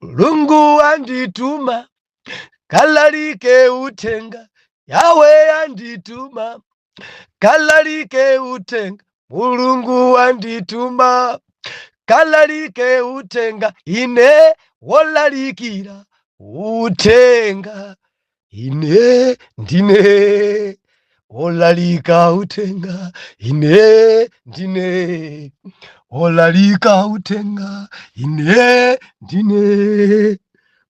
mulungu andituma kalalike uthenga Yawe andituma kalalike uthenga mulungu andituma kalalike uthenga ine wolalikira uthenga ine ndine wolalika uthenga ine ndine wolalika uthenga ine ndine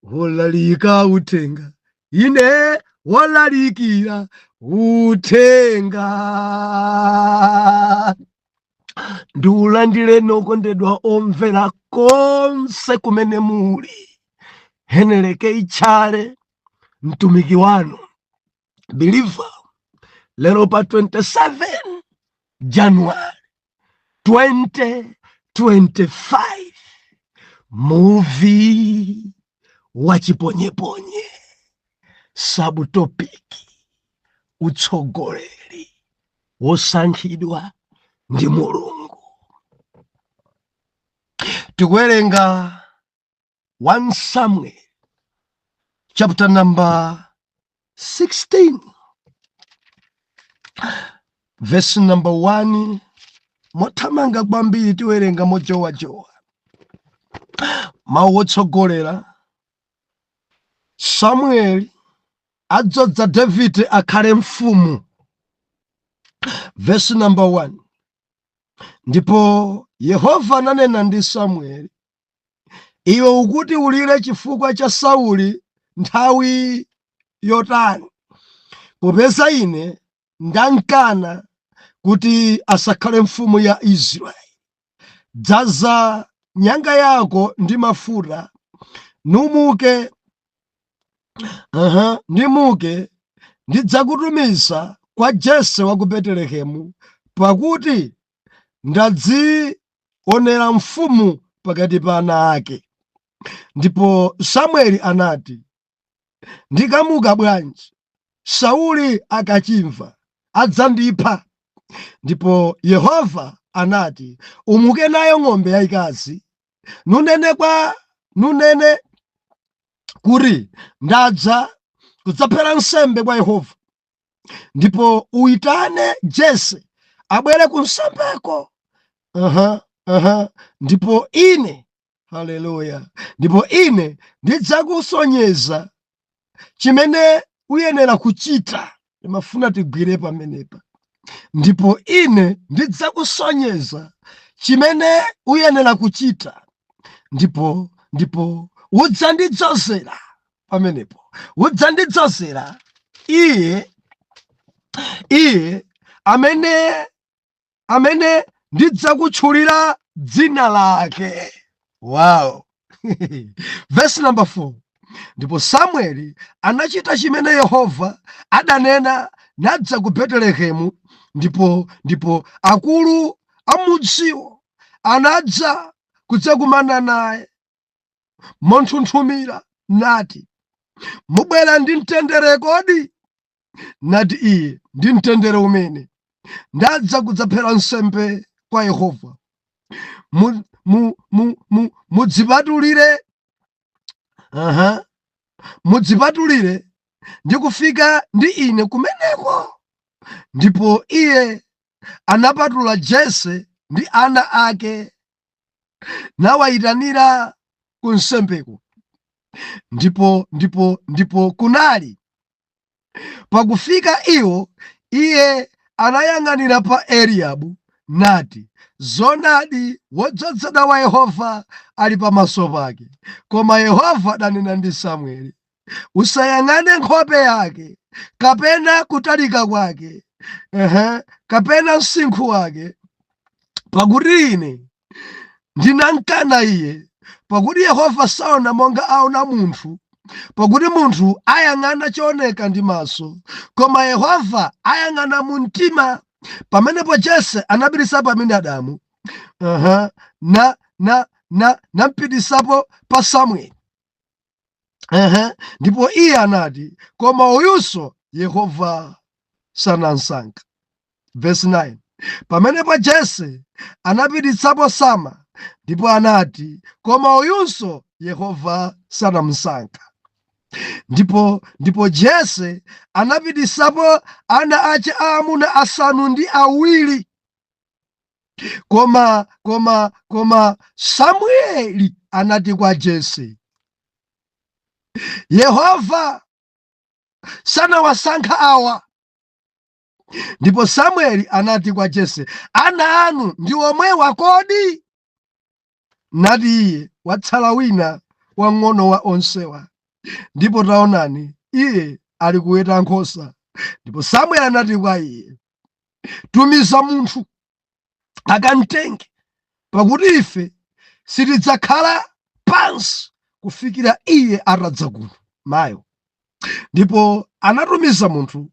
wolalika uthenga ine wolalikira uthenga ndiulandirenonso okondedwa omvera konse kumene muli heneleke itchale mtumiki wanu biliva lero pa 27 january 2025 muvi wachiponyeponye sabutopiki utsogoleri wosankhidwa ndi mulungu tikuwerenga 1 samuel chapter number 16 verse number 1 mothamanga kwambiri tiwerenga mojowajowa mawu otsogolera Samueli adzoza Davide akhale mfumu. Vesi namba 1 ndipo Yehova ananena ndi Samueli, iwe ukuti ulire chifukwa cha Sauli nthawi yotani, popeza ine ndamkana kuti asakhale mfumu ya Israeli. Dzaza nyanga yako ndi mafuta, numuke, numuke ndidzakutumiza kwa Jese wa ku Betelehemu, pakuti ndadzionera mfumu pakati pa ana ake. Ndipo Samueli anati, ndikamuka bwanji sauli akachimva adzandipha ndipo yehova anati umuke nayo ng'ombe yayikazi nunene kwa nunene kuti ndadza kudzaphera nsembe kwa yehova ndipo uitane jese abwere ku nsembeko aha aha ndipo ine haleluya ndipo ine ndidzakusonyeza chimene uyenera kuchita ndimafuna tigwire pamenepa ndipo ine ndidzakusonyeza chimene uyenera kuchita ndipo ndipo udzandidzozera pamenepo udzandidzozera iye iye amene amene ndidzakutchulira dzina lake wow vesi namba 4 ndipo samueli anachita chimene yehova adanena nadza ku betelehemu ndipo ndipo akulu a mudziwo anadza kudzakumana naye monthunthumira nati, Mubwera ndi mtendere kodi? Nati iye, ndi mtendere umene ndadza kudzaphera nsembe kwa Yehova. Mu- mu- mu- mu- Mudzipatulire, aha, mudzipatulire ndi kufika ndi ine kumeneko. Ndipo iye anapatula Jese ndi ana ake nawayitanira ku nsembeko ndipo ndipo ndipo kunali pakufika iwo iye anayang'anira pa eliyabu nati zoonadi wodzozedwa wa yehova ali pamaso pake koma yehova adanena ndi samueli usayang'ane nkhope yake kapena kutalika kwake ehe, kapena msinkhu wake, pakuti ine ndinamkana iye, pakuti Yehova saona monga aona munthu pakuti munthu ayang'ana chooneka ndi maso koma yehova ayang'ana mu mtima pamenepo jese anapititsapo aminadabu uh -huh. na na na nampititsapo pa samueli Ehe, ndipo iye anati koma uyunso Yehova sanamsankha. Verse 9 pamenepo Jese anapititsapo Sama ndipo anati koma uyunso Yehova sanamsankha. Ndipo ndipo Jese anapititsapo ana ace aamuna asanu ndi awiri koma koma koma samueli anati kwa jese yehova sanawasankha awa ndipo samueli anati kwa jese ana anu ndi omwewa kodi Nati iye, Watsala wina wang'ono wa onsewa, ndipo taonani, iye ali kuweta nkhosa. Ndipo Samueli anati kwa iye, Tumiza munthu akamtenge, pakuti ife sitidzakhala pansi kufikira iye atadza kuno. Mayo. Ndipo anatumiza munthu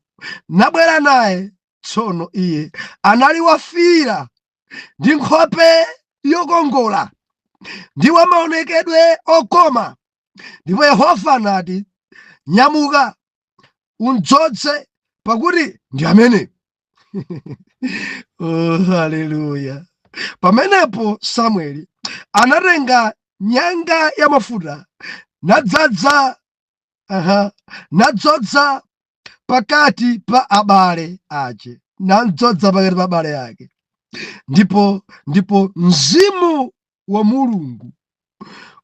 nabwera naye. Tsono iye anali wafiira ndi nkhope yokongola ndi wa maonekedwe okoma ndipo yehova anati nyamuka umdzodze pakuti ndi amene oh, haleluya pamenepo samueli anatenga nyanga ya mafuta nadzadza aha, namdzodza pakati pa abale ace namdzodza pakati pa abale ake ndipo ndipo mzimu wa mulungu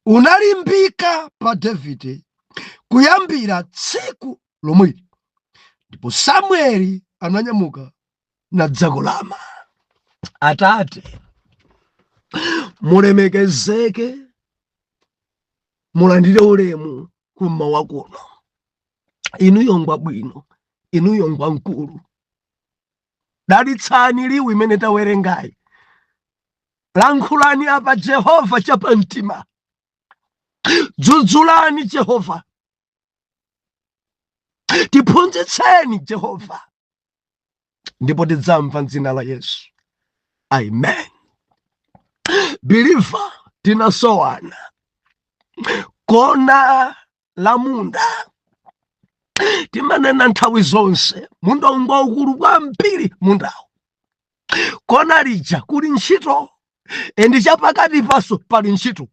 unalimbika pa davide kuyambira tsiku lomweli ndipo samueli ananyamuka nadzakulama atate mulemekezeke mulandire ulemu kummawa kuno inuyo ngwabwino inuyo ngwamkulu dalitsani liwu imene tawerengayi lankhulani apa jehova chapamtima dzudzulani jehova tiphunzitseni jehova ndipo tidzamva mdzina la yesu amen biliva tinasowana kona la munda timanena nthawi zonse munda ngwaukulu kwambiri mundawo kona lija kuli ntchito endi chapakati panso pali ntchito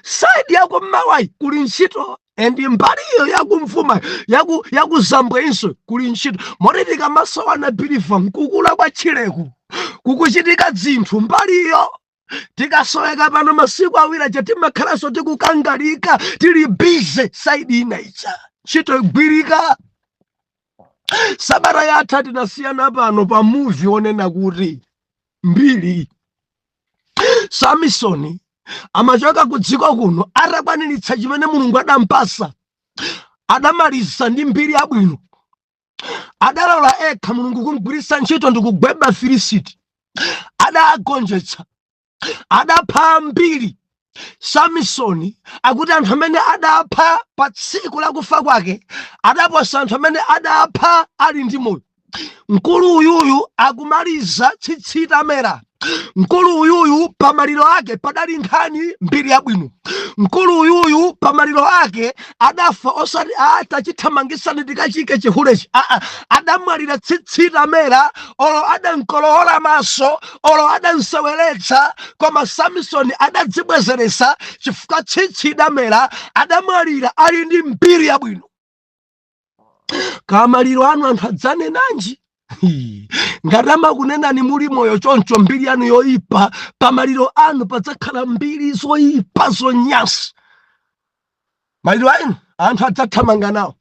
saidi yakummawayi kuli ntchito and mbaliyo yakumvuma yaku yakuzambwenso kuli ntchito moti tikamasowana biliva nkukula kwa ntchito kukuchitika zinthu mbaliyo tikasoweka pano masiku awiri aja timakhalanso tikukangalika tili bize saidi ina ija ntchito igwirika sabata yatha tinasiyana pano pa muvi onena kuti mbiri samisoni amachoka ku dziko kuno atakwaniritsa chimene mulungu adampasa adamaliza ndi mbiri yabwino adalola ekha mulungu kumgwiritsa ntchito ndi kugweba afilisiti adagonjetsa adapha ambiri samisoni akuti anthu amene adapha pa tsiku lakufa kwake adaposa anthu amene adapha ali ndi moyo mkulu uyuyu akumaliza tsitsi tamera mkulu uyuyu pa maliro ake padali nkhani mbiri yabwino mkulu uyuyu pa maliro ake adafa osati ati chithamangisani tikachiike chihulechi aa adamwalira tsitsi tamera olo adamkolowola maso olo adamseweretsa koma samisoni adadzibwezeretsa chifukwa tsitsi lidamera adamwalira ali ndi mbiri yabwino pamaliro anu anthu adzanenanji ngati amakunenani muli moyo choncho mbiri yanu yoyipa pamaliro anu padzakhala mbiri zoyipa zonyansa maliro anu anthu adzathamanga nawo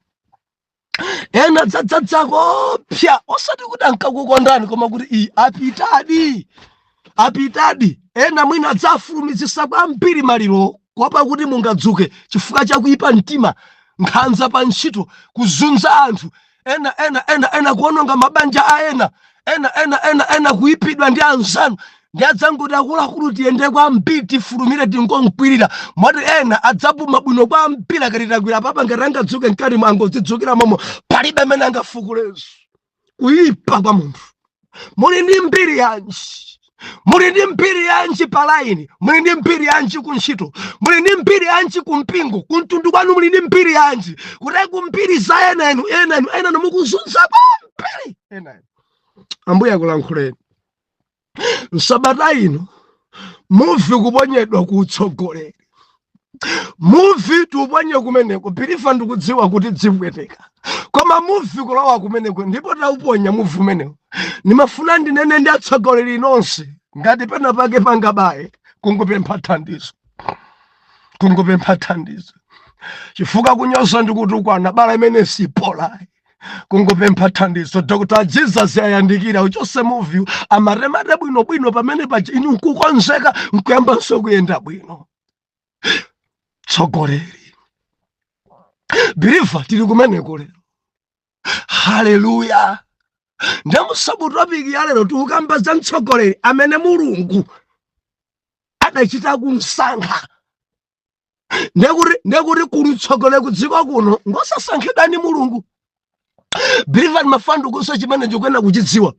ena adzadzadza koopsa osati kuti ankakukondani koma kuti iyi apitadi apitadi ena mwina adzafulumizisa kwambiri maliro kuopa kuti mungadzuke chifukwa cha kuyipa mtima nkhanza pa ntchito kuzunza anthu ena ena ena ena kuononga mabanja a ena ena ena ena ena kuipidwa ndi anzanu nde adzangoti akuluakulu tiyende kwambiri tifulumire tingonkwirira moti ena adzapuma bwino kwambiri akati takwirira apapa ngati angadzuke mkatimo angodzidzukira momo palibe amene angafukulenso kuipa kwa munthu muli ndi mbiri yanji muli ndi mbiri yanji pa laini muli ndi mbiri yanji ku ntchito muli ndi mbiri yanji ku mpingo ku mtundu kwanu muli ndi mbiri yanji kuti ku mbiri za ena enu ena enu ena enu mukuzunza kwambiri ena enu ambuye akulankhuleni msabata ino muvi kuponyedwa ku utsogoleri muvi tiuponye kumeneko believer ndikudziwa kuti dzipweteka koma muvi kulowa kumeneko ndipo tauponya muvi umenewo ndimafuna ndinene ndi atsogoleri nonse ngati pena pake pangabaye kungopempha thandizo kungopempha thandizo chifukwa kunyoza ndikutukwana bala imene sipolayi kungopempha thandizo dr jesus ayandikire auchose muviwo amatemate bwino bwino pamene paja inu nkukonzeka nkuyambanso kuyenda bwino tsogoleri believer tili kumeneko lero haleluya nde mu sub topic ya lero tikukamba za mtsogoleri amene mulungu adachita kumsankha ndekuti ndekuti kuli utsogoleri ku dziko kuno ngosasankhidwa ndi mulungu believer ndimafuna ndikuuze chimene chikuyenera kuchidziwa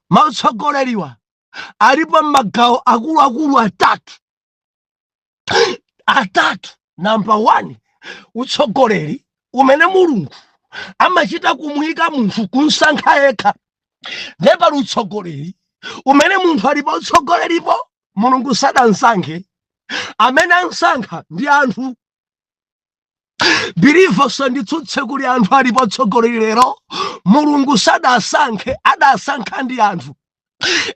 mautsogoleriwa alipo magawo akuluakulu atatu atatu namba one utsogoleri umene mulungu amachita kumuyika munthu kumsankha yekha ndiye pali utsogoleri umene munthu ali pa utsogoleripo mulungu sadamsankhe amene amsankha ndi anthu believer usanditsutse kuli anthu ali pa utsogoleri lero mulungu sadasankhe adasankha ndi anthu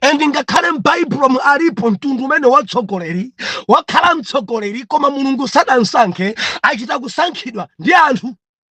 and ngakhale m'baibulomu alipo mtundu umene watsogoleri wakhala mtsogoleri koma mulungu sadamsankhe achita kusankhidwa ndi anthu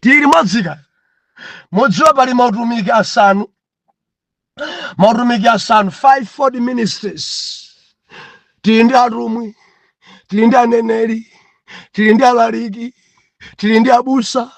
tili limodzi ka mudziwa pali mautumiki asanu mautumiki asanu fivefold ministries tili ndi atumwi tili ndi aneneri tili ndi alaliki tili ndi abusa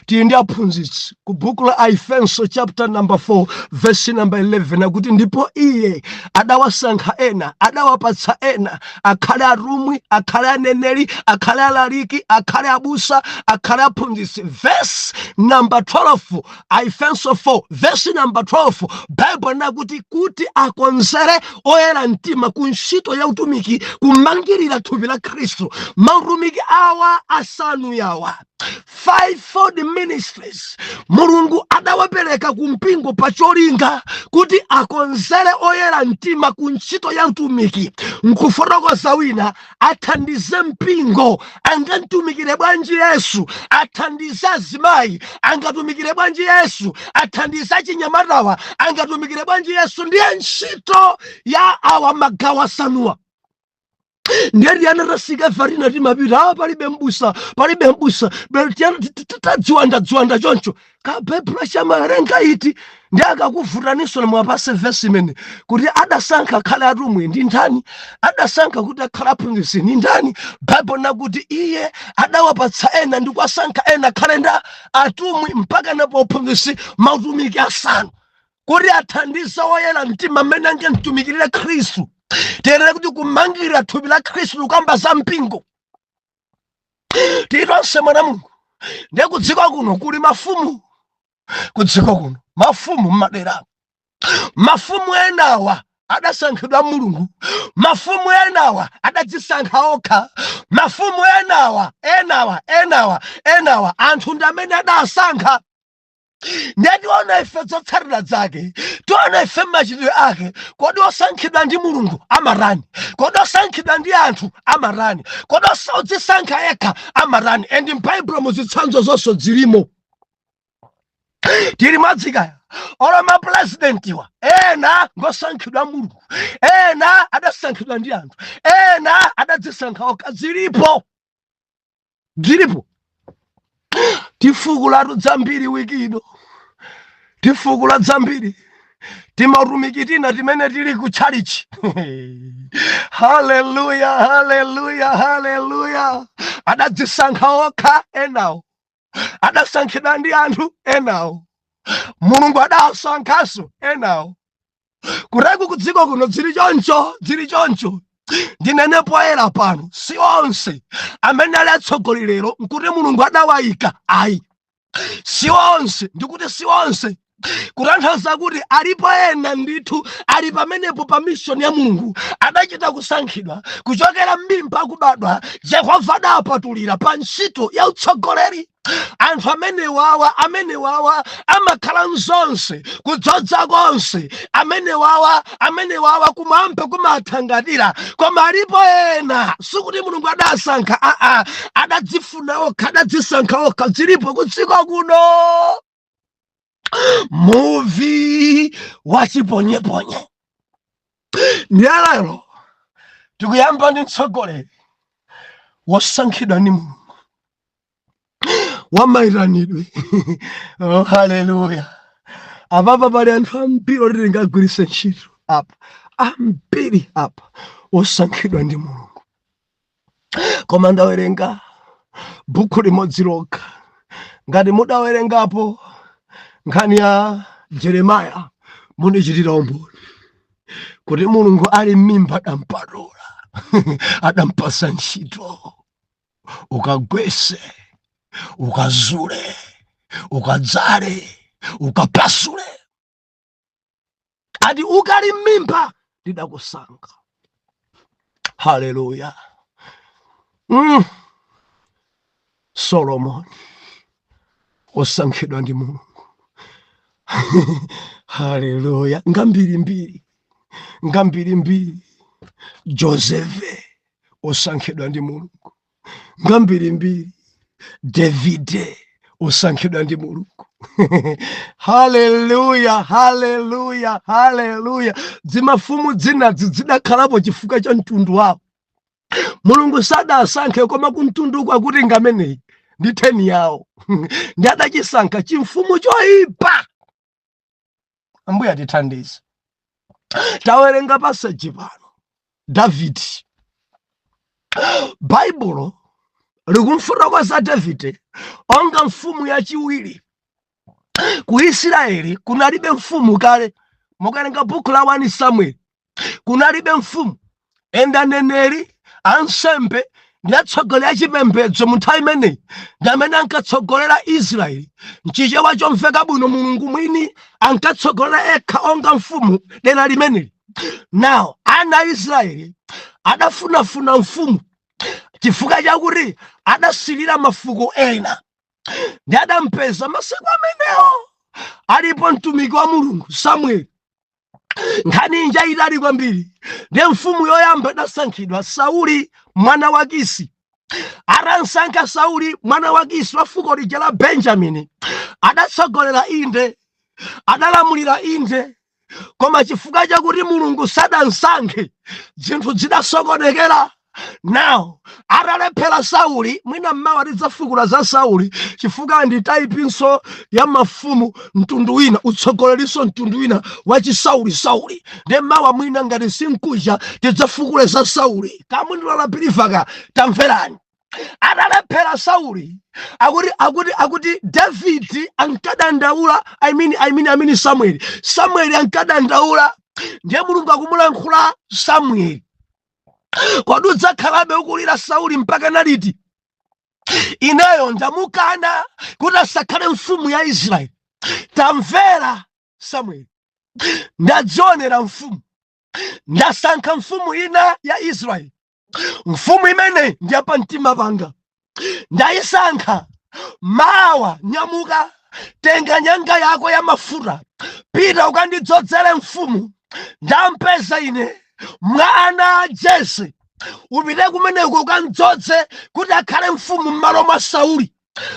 tili ndi aphunzitsi ku buku la Aefenso chapter number 4 verse number 11 akuti ndipo iye adawasankha ena adawapatsa ena akhale atumwi akhale aneneri akhale alaliki akhale abusa akhale aphunzitsi verse number 12 Aefenso 4 verse number 12 Bible nakuti kuti akonzere oyera mtima ku ntchito ya utumiki kumangirira thupi la Khristu mautumiki awa asanu yawa fivefold ministries mulungu adawapereka ku mpingo pa cholinga kuti akonzere oyera mtima ku ntchito ya utumiki nkufotokoza wina athandize mpingo angamtumikire bwanji yesu athandize azimayi angatumikire bwanji yesu athandize achinyamatawa angatumikire bwanji yesu ndiye ntchito ya awa magawo asanuwa ndiye tiyana tasika ife atina timapita awa palibe mbusa palibe mbusa bero tiyana tadziwanda dziwanda choncho kabaibulo chamawerenga iti ndi akakuvutaninso na muwapatse vesi imene kuti adasankha akhale atumwi ndi ndani adasankha kuti akhale aphunzitsi ndi ndani baibulo nakuti iye adawapatsa ena ndi kuwasankha ena akhale nda atumwi mpaka napo uphunzitsi mautumiki asanu kuti athandize woyera mtima mmene angamtumikirire khristu tiyenera kuti kumangirira thupi la khristu kukamba za mpingo tili tonse mwana mulungu ndiye kudziko kuno kuli mafumu kudziko kuno mafumu mmadera mafumu enawa adasankhidwa mulungu mafumu enawa adadzisankha okha mafumu enawa enawa enawa enawa anthu ndi amene adasankha ndiye tiona ife zotsatira zake tiona ife machitidwe ake kodi osankhidwa ndi mulungu amatani kodi osankhidwa ndi anthu amatani kodi osa- odzisankha yekha amatani and mbaibulomu zitsanzo zonse zilimo tili limodzi kaya olo mapulezidentiwa ena ngosankhidwa mulungu ena adasankhidwa ndi anthu ena adadzisankha okha zilipo dzilipo tifukulatu dzambiri wiki ino tifukula dzambiri timatumiki tina timene tili ku tchalichi haleluya haleluya haleluya adadzisankha okha enawo adasankhidwa ndi anthu enawo mulungu adawasankhanso enawo kuteko kudziko kuno dziri choncho dziri choncho ndinene poyera pano si onse amene ali atsogoleri lero nkuti mulungu adawayika ayi si onse ndikuti si onse kutanthauza kuti alipo ena ndithu ali pamenepo pa mishoni ya mulungu adachita kusankhidwa kuchokera m'mimba kubadwa yehova adawapatulira pa ntchito ya utsogoleri anthu amenewawa amenewawa amakhala nzonse kudzodza konse amenewawa amenewawa kumwamba kumawathangatira koma alipo ena sikuti mulungu adawasankha aa adadzifuna okha adadzisankha okha dzilipo kudziko kuno muvi wachiponyeponye ndiye lero tikuyamba ndi mtsogoleri wosankhidwa ndi mulungu wamaitanidwe oh, haleluya apapa pali anthu ambiri oti tingagwiritse ntchito apa ambiri apa osankhidwa ndi mulungu koma ndawerenga bukhu limodzi lokha ngati mudawerengapo nkhani ya jeremaya munichitira umboni kuti mulungu ali m'mimba adampatula adampatsa ntchito ukagwese ukazule ukadzale ukapasule ati ukali m'mimba ndidakusankha haleluya mm. solomoni osankhidwa ndi mulungu haleluya ngambirimbiri ngambirimbiri josefe osankhidwa ndi mulungu ngambirimbiri davide osankhidwa ndi mulungu haleluya haleluya haleluya dzimafumu dzinadzi dzidakhalapo chifukwa cha mtundu wawo mulungu sadawasankhe koma kumtundu kwakuti ngameneyi ndi theni yawo ndi adachisankha chimfumu choyipa ambuye atithandize tawerenga pasaji pano davidi baibulo likumfotokoza davide onga mfumu yachiwiri ku isiraeli kunalibe mfumu kale mukawerenga buku la 1 samueli kunalibe mfumu and aneneri ansembe ndi atsogoleri achipembedzo mu nthawi imeneyi ndi amene ankatsogolera israeli mchichewa chomveka bwino mulungu mwini ankatsogolera ekha onga mfumu dera limeneli nawo ana a israeli adafunafuna mfumu chifukwa chakuti adasilira mafuko ena ndi adampeza masiku amenewo alipo mtumiki wa Mulungu Samueli nkhani ija itali kwambiri ndiye mfumu yoyamba idasankhidwa sauli mwana wa kisi atamsankha sauli mwana wa kisi wa fuko lija la benjamini adatsogolera inde adalamulira inde koma chifukwa chakuti mulungu sadamsankhe zinthu zidasokonekera now atalephera sauli mwina mmawa tidzafukula za sauli chifukwa ndi taipinso ya mafumu mtundu wina utsogolerinso mtundu wina wachisauli sauli ndiye mmawa mwina ngati si mkuja tidzafukule za sauli kamundilola pilivaka tamverani atalephera sauli akuti akuti akuti davidi ankadandaula i mean i mean i mean samueli samueli ankadandaula ndiye mulungu akumulankhula samueli kodi udzakhalabe ukumulira sauli mpaka naliti ineyo ndamukana kuti asakhale mfumu ya israeli tamvera samueli ndadzionera mfumu ndasankha mfumu ina ya israeli mfumu imene ndiyapa mtima panga ndayisankha mawa nyamuka tenga nyanga yako ya mafuta pita ukandidzodzere mfumu ndampeza ine mwa ana a jese upite kumeneko ukamdzodze kuti akhale mfumu m'malo mwa sauli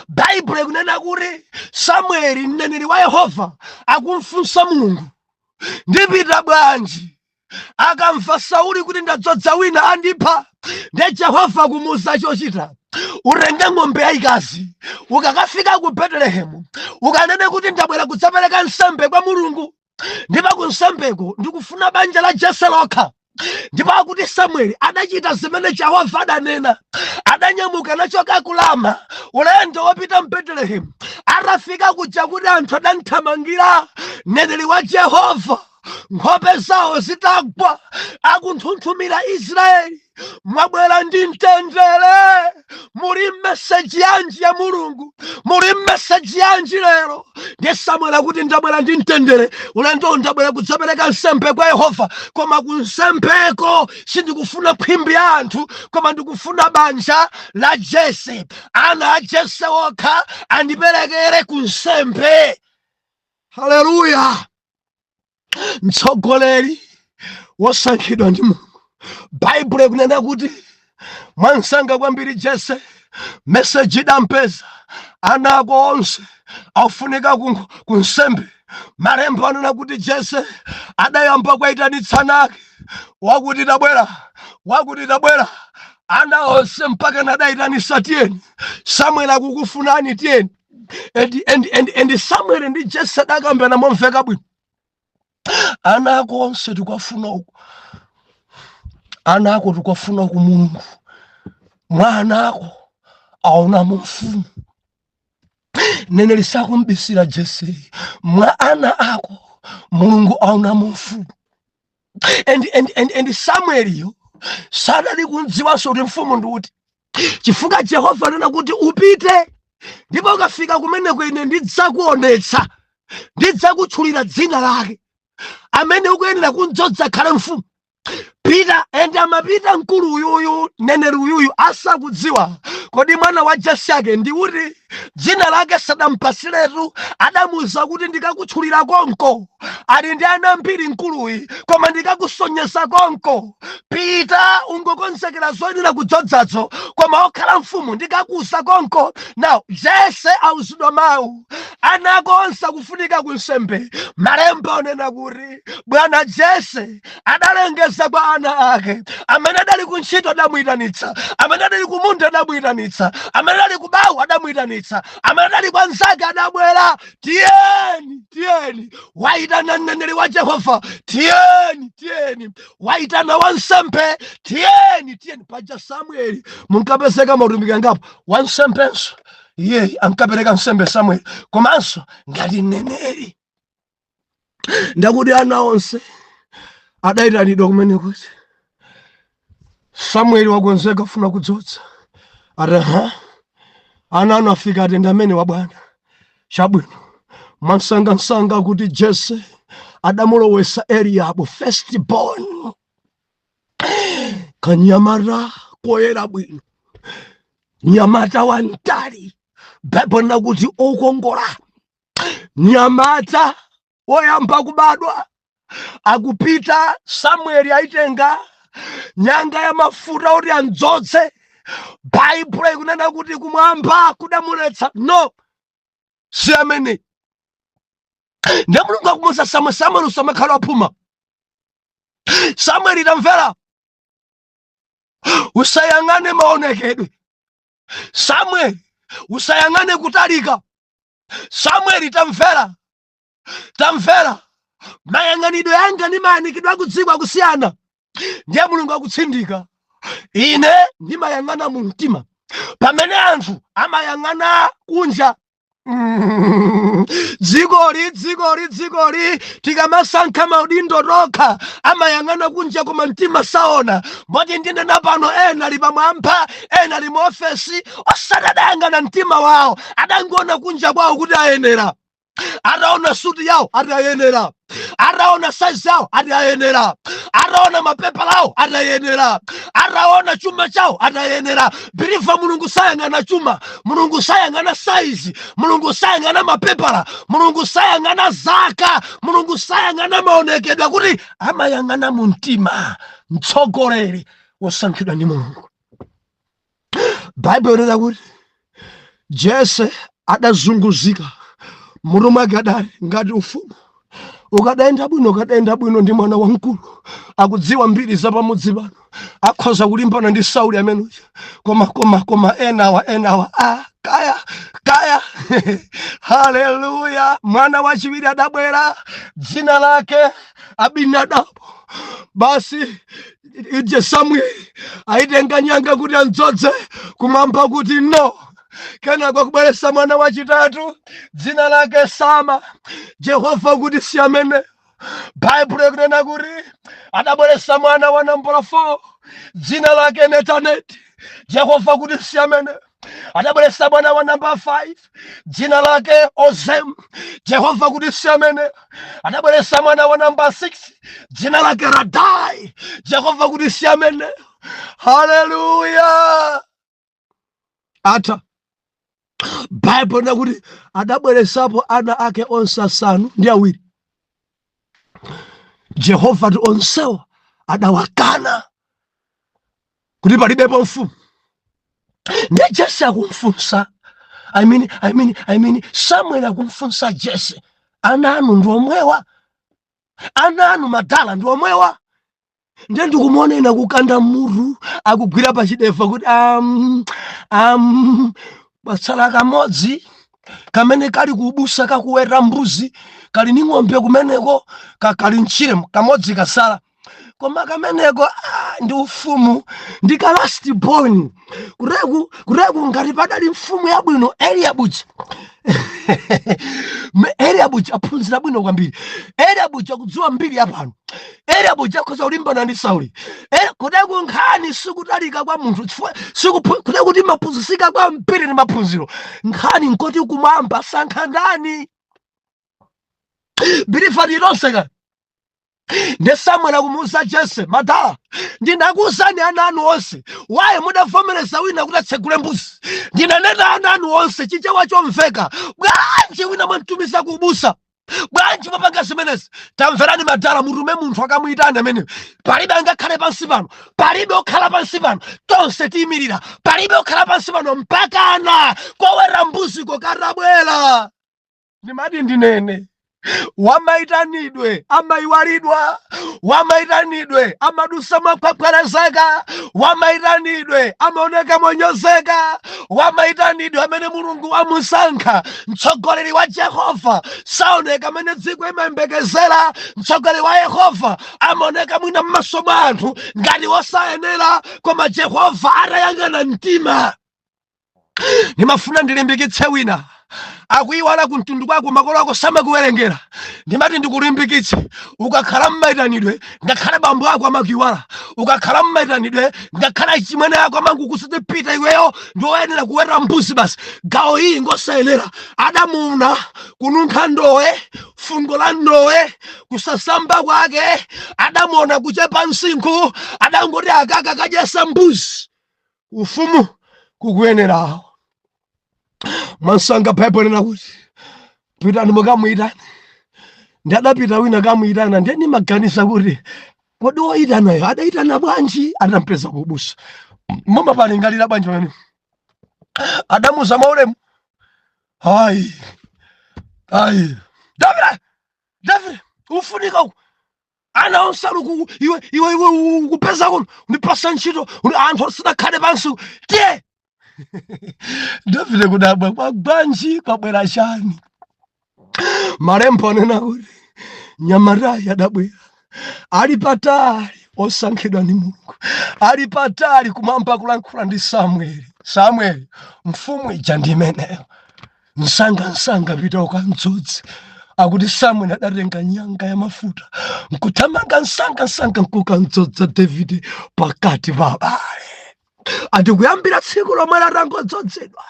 baibulo ikunena kuti samueli mneneri wa yehova akumfunsa mulungu ndipita bwanji akamva sauli kuti ndadzodza wina andipha nde jehova kumuuza chochita utenge ng'ombe yayikazi ukakafika ku betelehemu ukanene kuti ndabwera kudzapereka nsembe kwa mulungu ndipo ku nsembeko ndikufuna banja la jese lokha ndipo akuti samueli adachita zimene jehova adanena adanyamuka nachoka ku rama ulendo wopita mbetelehemu atafika kuja akuti anthu adamthamangira mneneri wa jehova nkhope zawo zitagwa akunthunthumira israeli mwabwera ndi mtendere muli mmeseji yanji ya mulungu muli mmeseji yanji lero ndiye samueli akuti ndabwera ndi mtendere ulendowu ndabwera kudzapereka nsembe kwa yehova koma ku nsembeko sindikufuna khwimbi ya anthu koma ndikufuna banja la jese ana a jese okha andiperekeze ku nsembe haleluya mtsogoleri wosankhidwa ndi mulungu baibulo ikunena kuti mwansanga kwambiri jese meseji idampeza ana ako onse afunika ku- kunsembe malemba anena kuti jese adayamba kwayitanitsa ana ake wakuti tabwera wakuti tabwera ana onse mpakana adayitanitsa tiyeni samueli akukufunani tiyeni and, and, and, and samuel ndi jese adakambirana momveka bwino ana ako onse tikuwafuna uku ana ako tikuwafuna uku mulungu mwa ana ako aonamo mfumu neneri sakumbisira jese mwa ana ako mulungu aonamo mfumu and, and, and, and samueliyo sadali kumdziwanso kuti mfumu ndi uti chifukwa jehova anena kuti upite ndipo ukafika kumeneko ine ndidzakuonetsa ndidzakutchulira dzina lake amene ukuyenera kundzodza akhale mfumu pita ende amapita mkulu uyuyu neneri uyuyu asakudziwa kodi mwana wa jese wake ndi uti dzina lake sadampatsiretu adamuuza kuti ndikakutchulira konko ali ndi ana ambiri mkuluyi koma ndikakusonyeza konko pita ungokonzekera zoyenera kudzodzazo koma okhala mfumu ndikakuuza konko now jese auzidwa mawu ana ako onse akufunika kunsembe malemba akunena kuti bwana jese adalengeza kwa ana ake amene adali ku ntchito adamuyitanitsa amene adali ku munda adamuyitanitsa amene adali ku bawu adamuyitanitsa amene adali kwa nzake adabwera tiyeni tiyeni wayitana mneneri wa jehova tiyeni tiyeni wayitana wansembe tiyeni tiyeni paja samueli munkapezeka mautumiki angapo wansembenso iyeyu ankapereka nsembe samueli komanso ngati mneneri nde akuti ana onse adayitanidwa kumene kuti samueli wakonzeka afuna kudzodza ati aha ana anu afika ati ndi amenewa bwana chabwino mwansangansanga kuti jese adamulowesa eliyabu first born kanyamata koyera bwino nyamata wantali baibulo ikunena kuti okongola nyamata woyamba kubadwa akupita samueli aitenga nyanga ya mafuta oti andzodze baibulo ikunena kuti kumwamba kudamuletsa no si ameneyu nde mulungu akumuuza samwe samueli usamakhala waphuma samueli tamvera usayang'ane maonekedwe Samueli, usayang'ane kutalika. Samueli, tamvera, tamvera. Mayang'anidwe anga ndi mayang'anidwe akudziko akusiyana, ndiye Mulungu akutsindika. Ine ndimayang'ana mu mtima, pamene anthu amayang'ana kunja. Mm. dzikoli dzikoli dzikoli tikamasankha maudindo tokha amayang'ana kunja koma mtima saona moti ndinena pano ena ali pamwamba ena ali muofesi osati adayang'ana mtima wawo adangoona kunja kwawo kuti ayenera ataona suti yawo ati ayenera ataona saizi yawo ati ayenera ataona mapepala awo ati ayenera ataona chuma chawo ati ayenera believer mulungu sayang'ana chuma mulungu sayang'ana saizi mulungu sayang'ana mapepala mulungu sayang'ana zaka mulungu sayang'ana maonekedwe kuti amayang'ana mu mtima mtsogoleri wosankhidwa ndi mulungu baibulo inena kuti jese adazunguzika mutu mwake adali ngati ufumu ukadayenda bwino ukadayenda bwino ndi mwana wamkulu akudziwa mbiri za pamudzi pano akhoza kulimbana ndi sauli ameneyo koma koma koma enawa enawa a ah, kaya kaya haleluya mwana wachiwiri adabwera dzina lake abinadabu basi ije samueli ayi tenga nyanga kuti andzodze kumwamba kuti no kenako kubweretsa mwana wachitatu dzina lake sama jehova kuti si ameneyo baibulo ikunena kuti adabweretsa mwana wa nambala 4 dzina lake netaneti jehova kuti si ameneyo adabweretsa mwana wa namba 5 dzina lake ozem jehova kuti si ameneyo adabweretsa mwana wa namba 6 dzina lake radai jehova kuti si ameneyo haleluya ata baibulo inena kuti adabweretsapo ana ake onse asanu ndi awiri jehova ati onsewa adawakana kuti palibepo mfumu nde jese akumfunsa I mean, I mean, I mean, samuel akumfunsa jese ana anu ndi omwewa ana anu madala ndi omwewa nde ndikumuona ine akukanda mutu akugwira pachidevu kuti um, um, patsala kamodzi kamene kali kubusa kakuweta mbuzi kali ni ng'ombe kumeneko ka- kali mtchire kamodzi kasala koma kameneko ah, ndi ufumu ndi ka last born kureku kureku ngati padali mfumu yabwino eliabuchi eliabuchi aphunzira bwino kwambiri eliabuchi akudziwa mbiri yapano eliabuchi akhoza kulimbana ndi sauli Eh, kureku nkhani sikutalika kwa munthu chifukwa sikupu- kureku timaphunzisika kwa mpiri ndi maphunziro nkhani nkuti kumwamba sankha ndani bilifa lilonseka ndi samueli akumuuza jese madala ndinakuuzani ana anu onse waye mudavomereza wina kuti atsegule mbuzi ndinanena ana anu onse chichewa chomveka bwanji wina mwamtumiza kuubusa bwanji mwapanga zimenezi tamverani madala mutume munthu akamuyitane amene palibe angakhale pansi pano palibe okhala pansi pano tonse tiyimirira palibe okhala pansi pano mpakana koweta mbuzi kokatabwera ndimati ndinene wamaitanidwe amaiwalidwa wamaitanidwe amadusa mokhwekhwerezeka wamaitanidwe amaoneka monyozeka wamaitanidwe amene mulungu wamusankha mtsogoleri wa jehova saoneka amene dziko imayembekezera mtsogoleri wa yehova amaoneka mwina m'maso mwa anthu ngati wosayenera koma jehova atayang'ana mtima ndimafuna ndilimbikitse wina akuyiwala kumtundu kwako makolo ako samakuwerengera ndimati ndikulimbikitse ukakhala mmaitanidwe ngakhale bambo ako amakuyiwala ukakhala mmaitanidwe ngakhale achimwene ako amangokuuza pita iweyo ndiwoyenera kuweta mbuzi basi gawo iyi ngosayenera adamuona kununkha ndowe fungo la ndowe kusasamba kwake adamuona kuchepa msinkhu adangoti akaka kadyesa mbuzi ufumu kukuyenerawo mwamsanga baibulo linena kuti pitani mukamuyitane ndi adapita wina kamuyitana ndiye ndimaganiza kuti kodi woyitanayo adayitana bwanji atampeza kubusa mama palingalira bwanji pamene adamuza mwaulemu hayi hayi davide davide ufunika uku ana onse ali ku- iwe iwe iwe u- kupeza kuno undipasa ntchito undi- anthu asanakhale pansi tiye davide kudabwa kwa bwanji kwabwera chani malembo anena kuti mnyamatayi adabwera ali patali osankhidwa ndi mulungu ali patali kumwamba kulankhula ndi samueli samueli mfumu ija ndi imeneyo msangamsanga pita ukamdzodze akuti samuel adatenga nyanga ya mafuta nkuthamanga msangamsanga nkukamdzodza davide pakati pa abale ati kuyambira tsiku lomwe latangodzodzedwa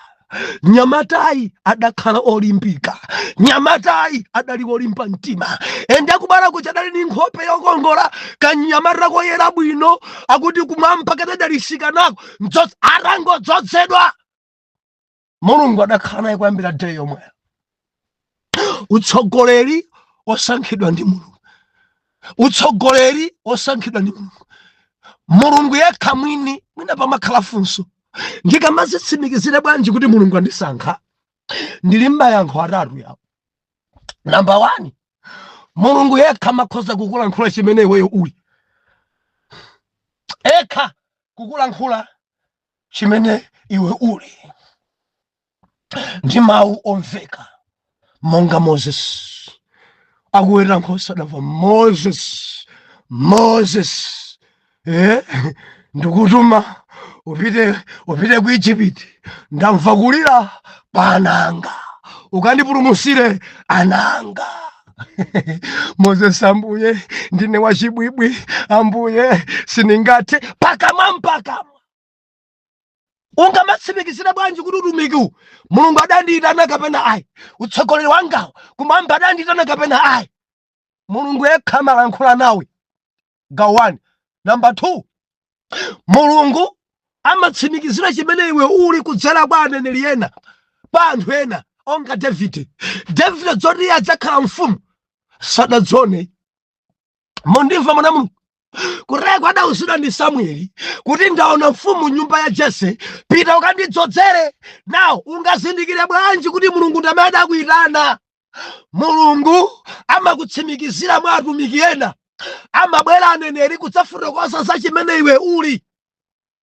nyamatayi adakhala olimbika nyamatayi adali olimba mtima ende akubala kuti adali ndi nkhope yokongola kanyamata koyera bwino akuti kumwamba kadadalitsika nako atangodzodzedwa mulungu adakhala naye kuyambira day yomweyo utsogoleri wosankhidwa ndi mulungu utsogoleri wosankhidwa ndi mulungu mulungu yekha mwini mwina pamakhala funso ndingamazitsimikizire bwanji kuti mulungu andisankha ndili ndi mayankho atatu yawo namba wani mulungu yekha amakhoza kukulankhula chimene iweyo uli yekha kukulankhula chimene iwe uli ndi mawu omveka monga moses akuweta nkhosa adamva moses moses eh? ndikutuma upite upite ku egypt ndamva kulira kwa ana anga ukandipulumutsire ana anga moses ambuye ndine wachibwibwi ambuye sindingathe pakamwa mpaka ungamatsimikizire bwanji kuti utumikiwu mulungu adandiitana kapena ayi utsogoleri wangawo kumwamba adandiitana kapena ayi mulungu yekha amalankhula nawe gawo 1 namba 2 mulungu amatsimikizira chimene iwe uli kudzera kwa aneneri ena kwa anthu ena monga davide davide zoti iye adzakhala mfumu sadazione mundimva mwana wa mulungu koteko adauzidwa ndi samueli kuti ndaona mfumu m'nyumba ya jese pita ukandidzodzere nawo ungazindikire bwanji kuti mulungu ndi amene adakuyitana mulungu amakutsimikizira mwa atumiki ena amabwera aneneri kudzafotokoza za chimene iwe uli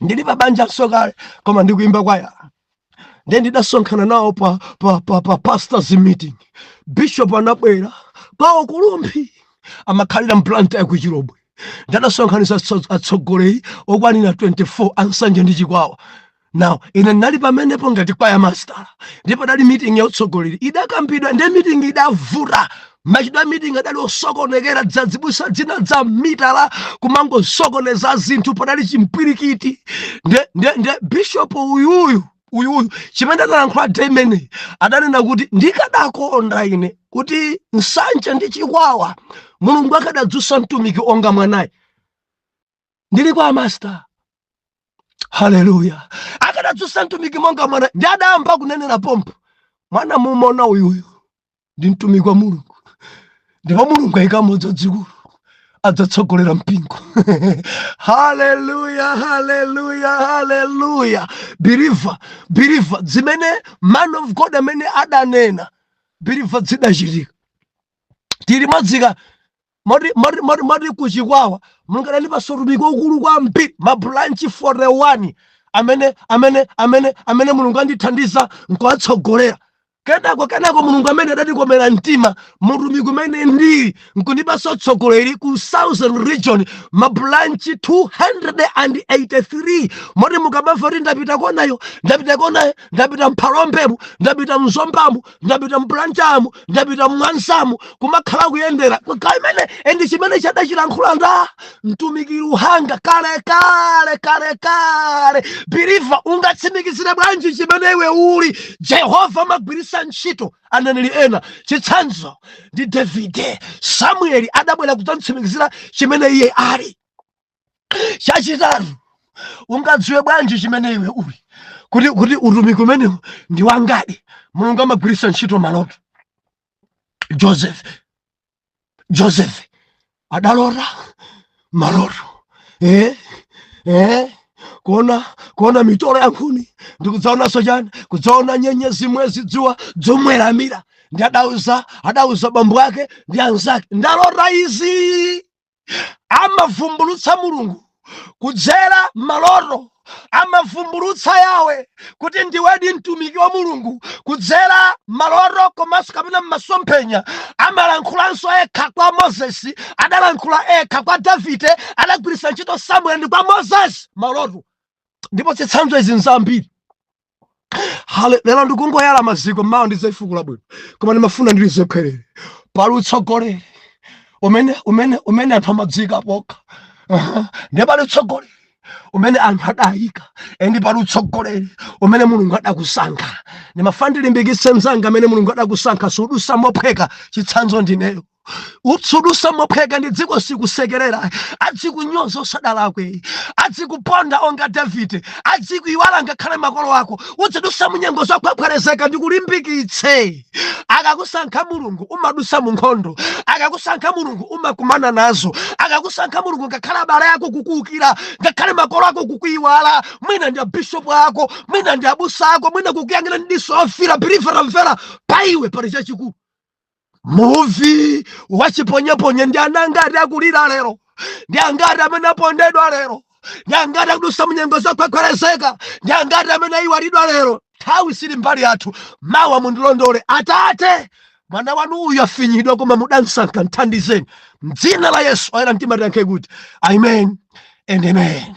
ndili pa banja nso kale koma ndikuimba kwaya ndiye ndidasonkhana nawo pa, pa, pa, pa pastors meeting bishop anabwera kwawo kulumphi amakhalira m'blantyre kuchilobwe ndiye adasonkhanitsa atso- atsogoleri okwanira 24 a nsanje ndi chikwawa now ine ndinali pamenepo ngati kwaya master ndipo idali meeting ya utsogoleri idakambidwa ndiye meeting idavuta machitidwe a mitingi adali osokonekera azibusa dzina dza mitala kumangosokoneza zinthu padali chimpwirikiti nde nde nde bishop uyuyu uyuyu chimene adalankhula day imeneyo adanena kuti ndikadakonda ine kuti nsanje ndi chikwawa mulungu akadadzutsa mtumiki monga mwanayi ndili kwa amasita haleluya akadadzutsa mtumiki monga mwana ndi adayamba kunenera pompo mwana mumona uyuyu ndi mtumiki wa mulungu ndipo mulungu ayikamo dzazikulu adzatsogolera mpingo haleluya haleluya haleluya believer believer zimene man of god amene adanena believer zidachitika tili mwadzika Moti, moti, moti, moti ku Chikwawa Mulungu anandipatsa utumiki waukulu kwambiri, mabulanchi 41 amene amene amene amene Mulungu andithandiza nkuwatsogolera. Kenako kenako Mulungu amene adandikomera mtima mutumiki umene ndili nkundipatsa utsogoleri ku Southern Region mabulanchi 283 moti mukamamva kuti ndapita konayo ndapita konayo ndapita m'Phalombemu ndapita m'Zombamu ndapita m'Blantyremu ndapita m'Mwanzamu kumakhala kuyendera kaimene endi chimene chadachilankhula nda mtumiki luhanga kale kale kale kale believer ungatsimikizire bwanji chimene iwe uli jehova amagwiritsa ntchito aneneri ena chitsanzo ndi davide samueli adabwera kudzamtsimikizira chimene iye ali chachitatu ungadziwe bwanji chimene iwe uli kuti kuti utumiki umenewu ndi wangadi mulungu amagwiritsa ntchito maloto joseph joseph adalota maloto eh? Eh? kuona kuona mitolo ya nkhuni ndikudzaonanso chani kudzaona nyenyezi mwezi dzuwa zomuweramira ndi adauza adauza bambo ake ndi anzake ndalota izi amavumbulutsa mulungu kudzera maloto amavumbulutsa Yahweh kuti ndiwedi mtumiki wa mulungu kudzera maloto komanso kapena mmasomphenya amalankhulanso ekha kwa mozesi adalankhula ekha kwa davide adagwiritsa ntchito samueli ndi kwa mozesi maloto ndipo zitsanzo izi nzambiri Hale- lero ndikungoyala maziko mawa ndidzaifukula bwino koma ndimafuna ndili zokhelere pali utsogoleri umene umene umene anthu amadziika pokha Aha. ndiye pali utsogoleri umene anthu adayika endi pali utsogoleri umene mulungu adakusankha ndimafuna ndilimbikitse mzanga amene mulungu adakusankha sudusa mophweka chitsanzo ndineyo sudutsa mophweka ndi dziko sikusekerera adzikunyoza usadalakwe adzikuponda monga davide adzikuiwala ngakhale makolo ako udzidusa munyengo zokhwekhwerezeka ndikulimbikitse akakusankha mulungu umadusa mu nkhondo akakusankha mulungu umakumana nazo akakusankha mulungu ngakhale abale ako kukuukira ngakhale makolo ako kukuiwala mwina ndi abishopu ako mwina ndi abusa ako mwina kukuyang'ana ndi diso ofira believer mvera paiwe pali chachikulu Muvi wachiponyeponye ndi ana angati akulira lero, ndi angati amene apondedwa lero, ndi angati akudutsa munyengo zokhwekhwerezeka, ndi angati amene ayiwalidwa lero. Nthawi sili mbali yathu, mawa mundilondole Atate. Mwana wanu uyu afinyidwa, koma mudamsankha, mthandizeni m'dzina la Yesu. Ayera mtima tiyankhe kuti amen and amen.